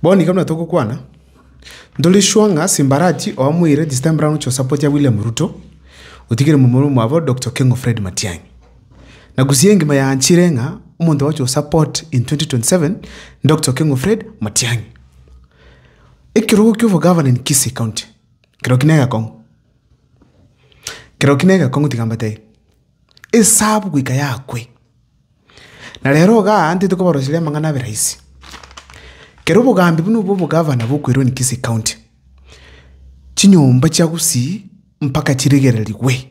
Bono iga buna togokwana, ntore sure ng'a Simbarati oamoire this time round chosapoti ya William Ruto, otigire momura omwabo Doctor Keng'u Fred Matiang'i. Na gusii engima yaanchire ng'a omonto ogocha osupport in 2027 ni Doctor Keng'u Fred Matiang'i. Ekerogo kia obogavana in Kisii County, kereo ki negekong'u. Kero ki negekong'u tiga mbatebie, esabu goika yakwe. Na rero igaa ntete kobaroseria amang'ana abe rahisi. Kero obogambi buna obwo obogavana bwa Kweroni Kisii County, chinyomba chia gusii mpaka chiregererigwe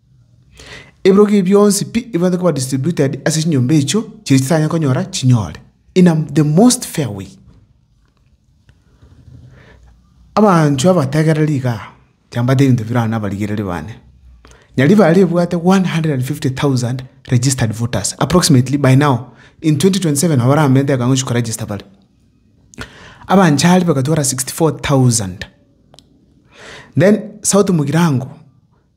Ebirogo ebi bionsi pi ebibwate koba distributed ase chinyomba echio chiria chitanyare konyora chinyore in a the most fair way. Abanto abategereri iga aa chambate ebinto birao na abarigereri bane. Nyaria bare ebwate 150,000 registered voters approximately by now in 2027 nabo baramenyete ekero ngochia ko register bare. Abanchari bagatwara 64,000. Then south mugirango.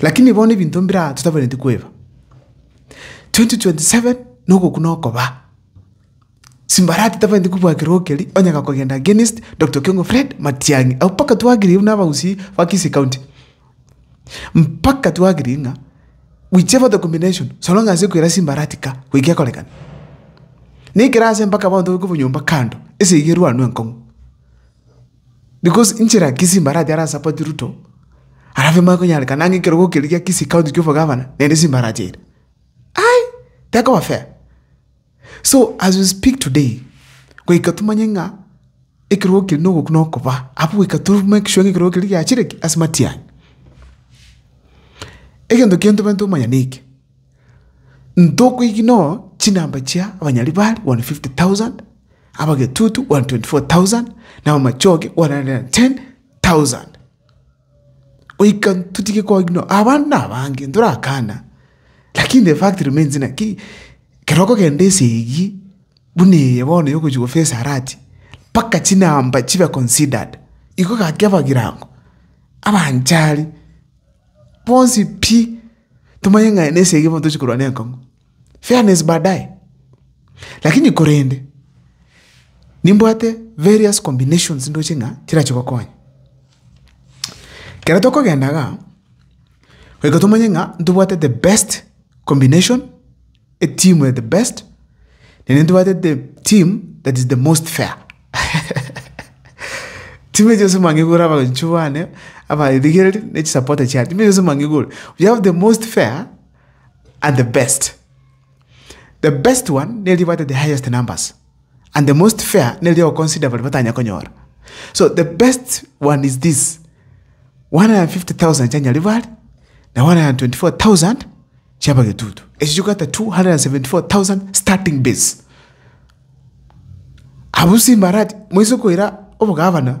Lakini bono ebinto mbire aa totabanetie koeba, 2027 na ogokuna okoba. Simbarati etabanetie kobua ekerogo keria, onye gakogenda against Doctor Okengo Fred Matiang'i, abwo mpaka twarigereria buna abagusii ba Kisii County. Mpaka twarigereria ng'a whichever combination so long as ekoira Simbarati kaa, goika ekorekana. Na ekero ase mpaka bono tobe kobua nyomba kando, esegi erwanwe enkong'u. Because inche na Kisii mbarache ase asapoti Ruto, alafu emanye konyarekana ang'e ekerogo keria gia Kisii county kia obogavana nere simbarache eira. Ai! Tekoba fair. So as we speak today, goika tomanye ng'a ekerogo keria na ogokuna okoba, abwo goika to make sure ng'a ekerogo keria giachire ki? Ase matiang'i. Egento kende tobwenerete komanya na eke, ntokoigina oo chinamba chia abanyarwari one fifty thousand. abagetutu 124,000, na abamachoge 110,000. Goika totige koigwa ng'a abande nabange ntorakana, lakini the fact remains ng'a ki ekero okogenda ase eyio buna eye bono ya ogochia gofacea rati, mpaka chinamba chibe considered, igo gaki abagirango, abanchari, bonsi pi, tomanye ng'a aya na esegi bono tochi korwa na enkong'u. Fairness baadaye. Lakini korende, nimbwate various combinations ndoche ng'a chirache gokonya. Ekero tokogenda igaa, goika tomanye ng'a ntobwate the best combination, etimu ya the best, naende ntobwate the team that is the most fair. Timu echi yonsi mwang'igure abaanchu bane, abaarigereria, na chisapota chiane, timu echi yonsi mwang'igure. We have the most fair. and the best. The best one nere ribwate the highest numbers and the most fair nere riogoconsider baria batanya konyora. So the best one is this 150,000 chia Nyaribari na 124,000 chia Bagetutu. Echi chikogata 274,000 starting base. Abu simbarati moise koira obogavana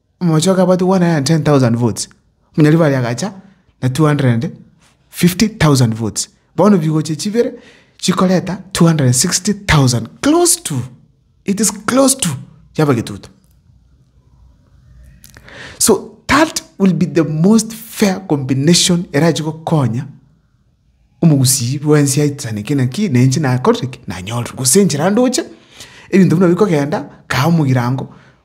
Omochie oka abwate 110,000 votes, omonyaria baria agacha na 250,000 votes. Bono bigochia chibere chikoreta 260,000 close to it is close to chia abagetutu. So that will be the most fair combination erachie gokonya omogusii bwa ense aitane ki naki na inche nakorire ki nanyorire. Gose enchera ndoche ebinto buna bikogenda kae omogirango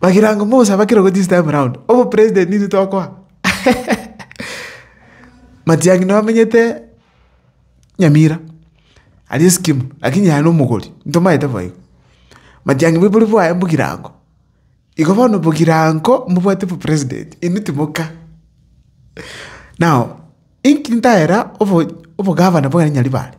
Bagirango Musa bakirogo this time round obo president intwe tokoa Matiang'i noo amenyete Nyamira aria Syokimau lakini aye nomogori ntomaete bo igo Matiang'i boibori bwaye mbogirango igo bono bogirango mbobwate bo president intwe timoka now inki ntahera obo obogavana bwa Nyaribare.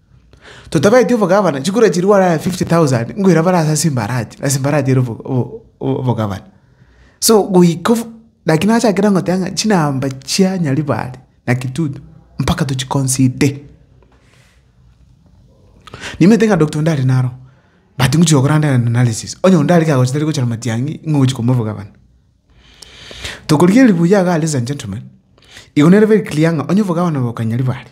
Totabaeti obogabana, chikura chiria gware aye fifty thousand, nkoira bare ase ase embarachi, ase embarachi ere obo- obo- obo- obogabana. So goika obo, naki nachakire ngoteba ng'a chinamba chia Nyaribari na Kitutu, mpaka tochi conside. Nimanyete ng'a Doctor ndare naro, but ngochi gokora nde analysis, onye onde are kagochi tari gochora matiang'i, ng'a ogochi kobua obogabana. Tokorigereria buya iga ladies and gentlemen, igo nere very clear ng'a onye obogabana boka Nyaribari.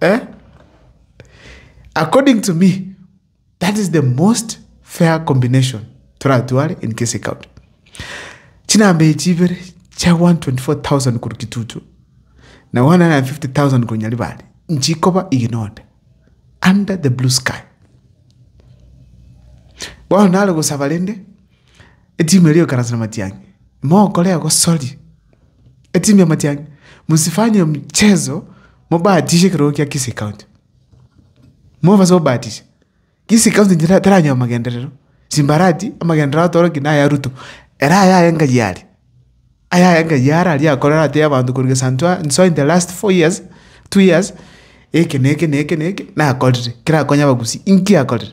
Eh? According to me, that is the most fair combination toratware in Kisii County. Chinamba echi ibere chia 124,000 korwa Kitutu na 150,000 korwa Nyaribari nchikoba iginoda under the blue sky. Bono nare gosaba rende Etimu eria yokaranse na matiang'i, mokore egosori etimu ya matiang'i, mosifanye mchezo mobahatishe ekerogo kia Kisii County. Mobase gobahatisha, Kisii County tera teranyoa amagenderero, chimbarati, amagenderero atoroki na aya Ruto, ere aya aye ngai are, aya aye ngai are aria akorera atebi abanto korwa gesaanto aa nsoa in the last four years, two years, eke na eke na eke na eke nakorire, kera akonye Abagusii, inki akorire?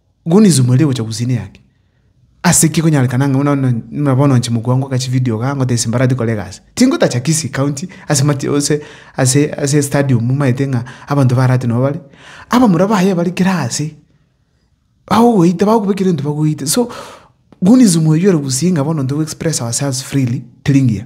Gunizo mweire gocha gusini yake. Ase ki konyarekana ng'a buna bono buna bono inche mokua ngoka chividio igaa ngote ase mbarati kore egasi? Tingotacha Kisii County ase mati ase ase ase estadium maete ng'a abanto ba Arati nabo bare. Abamura baye bare kera ase, bagogoita bagokuba ekero gento bagoite so, Gunizo mwaiyore gusii ng'a bono ntogoexpress ourselves freely teri ngiya.